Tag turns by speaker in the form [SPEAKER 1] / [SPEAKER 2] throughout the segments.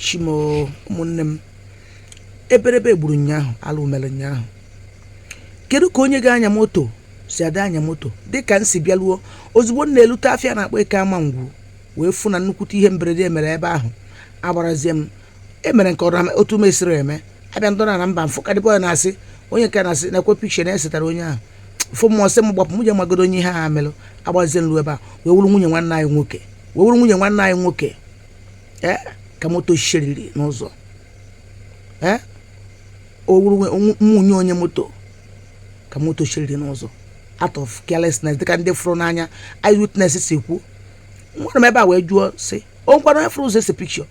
[SPEAKER 1] chi m o ụmụnne m eberebe gburu ụnyaahụ alụ mere ụnyaahụ kedu ka onye ga-anya moto si ada anya moto dịka m si bịaruo ozugbo m na-elute afịa a na-akpọ eke amangwu wee fụ na nnukwute ihe mberede mere ebe ahụ agbarazie m emere nke ọrụ otu m esiri eme abịa ndọrọ na mba m fụ ka dịbọ ya na-asị onye nke na-asị na-ese pikcha na-esetara onye ahụ fụ mụ asị m gbapụ m je magodo onye ihe a merụ agbazie m lu ebe a wee wụrụ nwunye nwanne anyị nwoke wee wụrụ nwunye nwanne anyị nwoke ee ka moto shiriri n'ụzọ ee ọ wụrụ nwunye onye moto ka moto shiriri n'ụzọ out of carelessness dịka ndị fụrụ n'anya eyewitness si kwu nwere m ebe a wee jụọ sị o nwekwara onye fụrụ ụzọ ese pikcha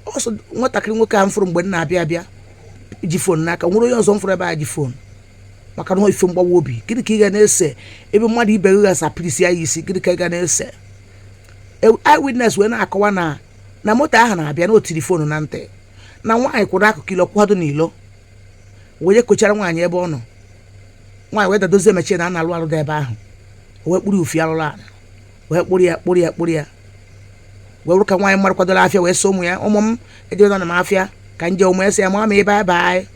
[SPEAKER 1] ọ sọ nwatakịrị nwoke ahụ m fụrụ mgbe m na-abịa abịa ji fon n'aka nwero onye ọzọ m fụrụ ebe a ji fon maka na ọ wụ ife mgbawa obi gịnị ka ị ga na-ese ebe mmadụ ibe gị ghasa pirisi ya isi gịnị ka ị ga na-ese eyewitness wee na-akọwa na na moto ahụ na-abịa na o tiri fon na ntị na nwaanyị kwụrụ akụkụ ilo kwado n'ilo wee kochara nwaanyị ebe ọ nọ nwaanyị wee dadozie mechie na a na-alụ alụ dị ebe ahụ o wee kpụrụ ufi alụrụ ala wee kpụrụ ya kpụrụ ya kpụrụ ya wee wụrụ ka nwaanyị mmadụ kwadoro afịa wee sị ụmụ ya ụmụ m ejebena na m afịa ka m je ụmụ ya sị ya mama bye bye anyị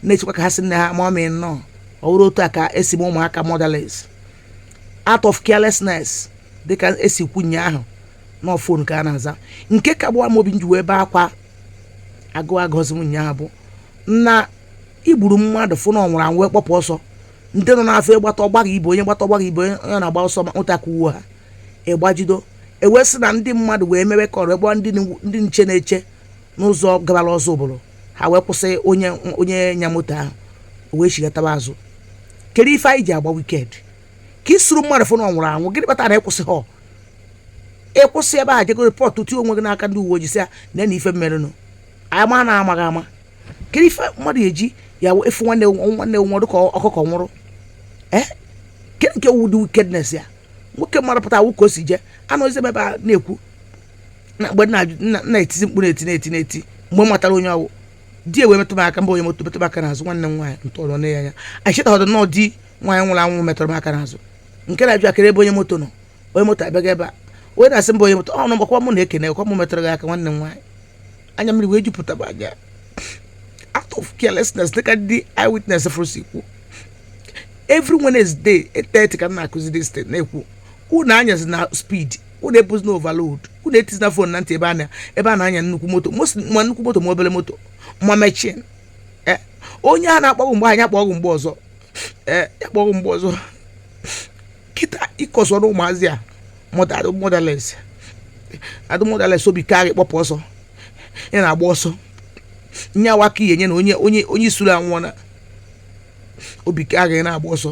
[SPEAKER 1] na-echekwa ka ha sị nne ha mama nnọọ ọ wụrụ otu a ka e si mee ụmụaka motherless out of carelessness dịka e si kwu ụnyaahụ na fon ka a na-aza nke ka agbawa m obi m ji wee bee akwa agụ agọzi m ụnyaahụ bụ na i gburu mmadụ fụ na ọ nwụrụ anwụ wee kpọpụ ọsọ ndị nọ n'afọ ịgbata ọgbaghị ibe onye gbata ọgbaghị ibe onye onye na-agba ọsọ ma ụta ka uwe ha ịgbajido e wee sị na ndị mmadụ wee mewe call ru ebe ndị n- ndị nche na-eche n'ụzọ gabara ọzọ obodo ha wee kwụsị onye onye nya moto ahụ o wee chigatawa azụ kedu ife anyị ji agba wicked ka ị sụrụ mmadụ fụ na ọ nwụrụ anwụ gịnị kpatara na ị kwụsịhọ ị kwụsị ebe a jego report tinye onwe gị n'aka ndị uwe ojii sị ya na na ife m merenụ anyị ma na amaghị ama kedu ife mmadụ ji ya efu nwanne nwanne nwụrụ ka ọkụkọ nwụrụ ee kedu nke wụ ụdị wickedness a nwoke mara pụta ọ wụ ka o si jee anọzi m ebe a na-ekwu na mgbe m na-etizi mkpu eti na-eti na-eti mgbe m matara onye ọ wụ di ya wee metụ m aka mba onye moto metụ m aka n'azụ nwanne m nwaanyị ntọrọ na ya anya anyị chetaghọdụ na ọ di nwaanyị nwụrụ anwụ metụrụ m aka n'azụ nke na-ajụ kedu ebe onye moto nọ onye moto abịaghị ebe a onye na-asị mba onye moto ọ nọ mgbakwa mụ na-ekene kwa mụ metụrụ gị aka nwanne m nwaanyị anya mmiri wee jupụta m anya out of carelessness dịka ndị eyewitness fụrụ si kwu every Wednesday 8:30 ka m na-akụzi this thing na-ekwu unu anyazina speed unu ebuzina overload unu etizina fon na ntị ebe a na- ebe a na-anya nnukwu moto most- ma nnukwu moto ma obere moto ma mechin Eh, onye a na-akpọ gị mgbe ahụ ya kpọọ gị mgbe ọzọ Eh, ya kpọọ gị mgbe ọzọ kịta ị kọsọrọ ụmụazị a motherless adụ motherless obi karị kpọpụ ọsọ ya na-agba ọsọ nye awa ka ihe nye na onye onye onye ị sụrụ anwụọ na obi karị na-agba ọsọ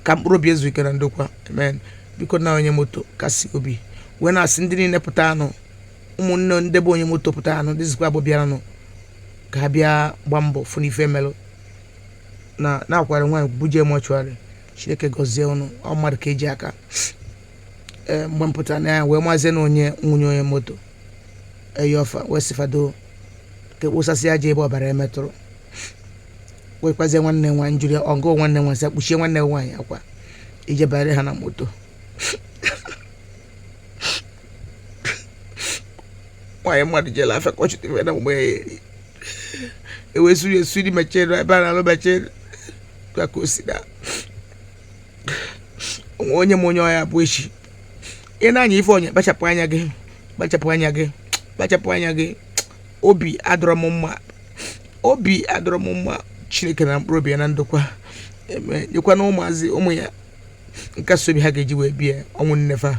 [SPEAKER 1] ka mkpụrụ obi ya zuo ike na ndokwa amen biko na onye moto kasị obi wee na-asị ndị niile pụtanụ ụmụnne ndị bụ onye moto pụtanụ ndị zikwa abụ bịaranụ ka ha bịa gba mbọ fụ n'ife melụ na na-akwara nwaanyị buje mortuary chineke gọzie unu ọ mmadụ ka e ji aka ee mgbe m pụtara na ya wee mazie na onye nwunye onye moto ayọ fa wee sị fa do ka e kposasị aja ebe ọbara ya metụrụ wee gwazie nwanne nwaanyị njụrụ ya ọgụ nwanne nwaanyị sị ya kpuchie nwanne nwaanyị akwa ije banyere ha na moto nwaanyị mmadụ jelụ afịa ka ọ chụta ife na mgbe ya eri ewesiri esiri mechere ebe a na-alụ mechere ka o si na o nwe onye ma onye ọ ya-abụ echi ị na-anya ife onye kpachapụ anya gị kpachapụ anya gị kpachapụ anya gị obi adịrọ m mma obi adịrọ m mma chineke na mkpụrụ obi ya na ndokwa amen nyekwa na ụmụazị ụmụ ya nkasi obi ha ga-eji wee die ọnwụ nne fa